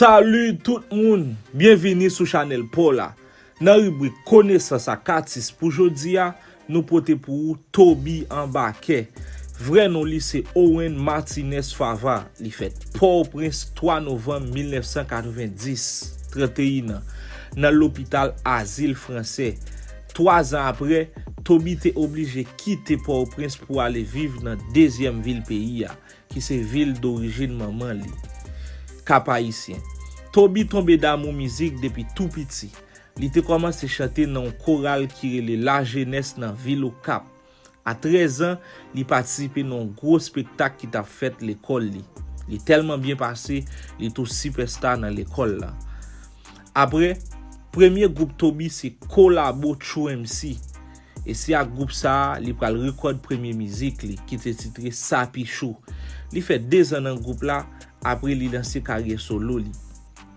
Salut tout moun! Byenvini sou chanèl paw la. Nan ribrik konesans ak atis pou jodi a, nou pote pou ou Toby Anbakè. Vrè non li se Owen Martinez Fava. Li fèt Port-au-Prince 3 novanm 1990, 31 an, nan lopital Azil Fransè. Twa zan apre, Toby te oblije kite Pòtoprens pou ale viv nan dezyèm vil peyi a, ki se vil dorijin manman li, Kap-Ayisyen. Toby tonbe damou mizik depi tou piti. Li te kòmanse chante nan yon koral ki rele Lajenès nan vil Okap. A 13 an, li patisipe nan yon gwo spektak ki t ap fèt lekòl li. Li tèlman byen pase, li tou sipèsta nan lekòl la. Apre, premye gwoup Toby se Kolabo True MC, e se ak gwoup sa a li pral rekòd premye mizik li, ki te titre Sapichou. Li fè dezan nan gwoup la, apre li lanse karyè solo li.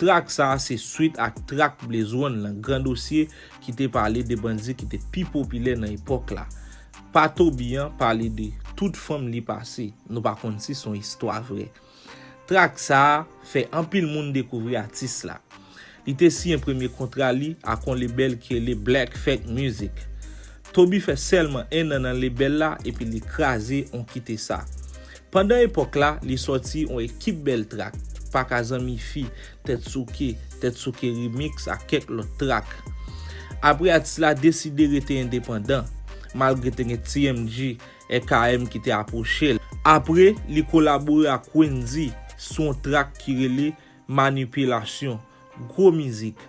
Trak sa a se swit ak trak Blaze One lan, Gran Dosye, ki te pale de bandi ki te pi popilè nan epòk la. Pa Toby an pale de tout fanm li pase, nou pa konn si son istwa vrè. Trak sa a fè anpil moun dekouvri atis la. Li te siyen premye kontra li ak on lebèl ki rele Black Fake Music. Toby fè sèlman 1 nan nan lebèl la epi li kraze on kite sa. Pandan epòk la, li sòti on ekip bèl trak, Paka zanmi fi, Tèt souke, Tèt souke remix ak kèk lòt trak. Apre atis la deside rete endepandan, malgre te gen TMG, RKM ki te apwoche l. Apre, li kolabore ak Wendyy sou on trak ki rele Manipilasyon, gwo mizik.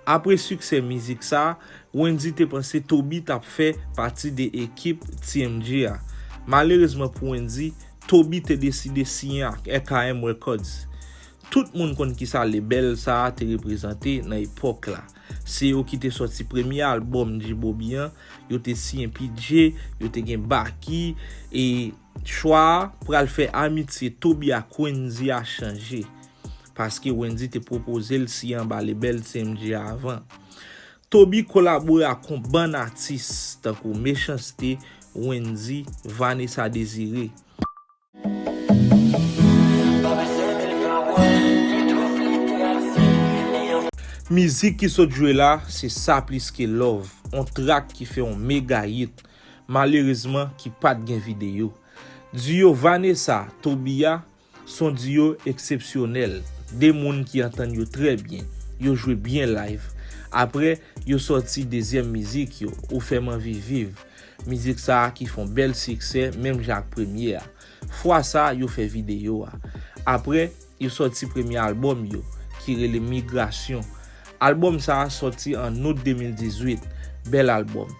Apre siksè mizik sa, Wendyy te panse Toby t ap fè pati de ekip TMG a. Malerezman pou Wendyy, Toby te deside siyen ak RKM Records. Tout moun konn kisa lebèl sa a te reprezante nan epòk la. Se yo ki te sòti premye albòm G-Bobby an, yo te siyen P-Jay, yo te gen Baky, e. Chwa a pral fè amitye Toby ak Wendy a chanje, paske Wendy te pwopoze l siyen anba lebèl CMG a avan. Toby kolabore ak yon bann atis tankou Mechans-T, Wendy, Vanessa Désiré. Mizik ki sot jwe la se Sa Plis Ke Love, yon trak ki fè yon mega hit. malerezman ki pat gen videyo. Duo Vanessa, Tobia son duo eksepsyonèl, 2 moun ki antann yo trè byen, yo jwe byen live. Aprè yo sòti dezyèm mizik yo, ou fèm anvi viv, mizik sa ki fon bèl siksè menm jan ak premye a. Fwa sa yo fè videyo a. Aprè. Yo sòti premye albòm yo, ki rele Migrasyon. Albòm sa a sòti an Out 2018. Bèl albòm.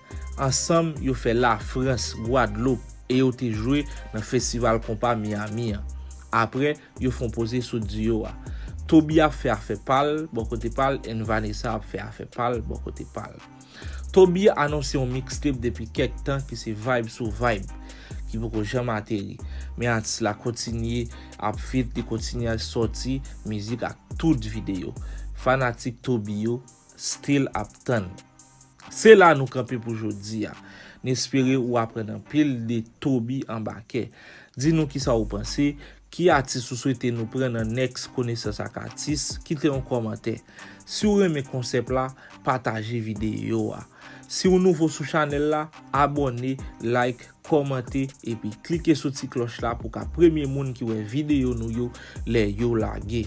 Ansanm, yo fè Lafrans, Gwadloup, e yo te jwe nan Festival Konpa Miyami an. Apre, yo fon poze sou duo a. Toby ap fè afè pa l, bò kote pa l, and Vanessa ap fè afè pa l, bò kote pa l. Toby anonse yon mixtape depi kèk tan ki se Vibe sou Vibe, ki poko janm ateri. Men atis la kontinye ap feat, li kontinye al sòti mizik ak tout videyo. Fanatik Toby yo still ap tann. Se la nou kanpe pou jodi a. N espere ou aprann anpil de Toby Anbakè. Di nou kisa ou panse, Ki atis ou swete nou pran nan next konesans ak atis? Kite yon kòmantè. Si w renmen konsèp la, pataje videyo a. Si w nouvo sou chanèl la, abòne, like, kòmante epi klike sou ti klòch la pou w ka premye moun ki wè videyo nou yo lè yo lage.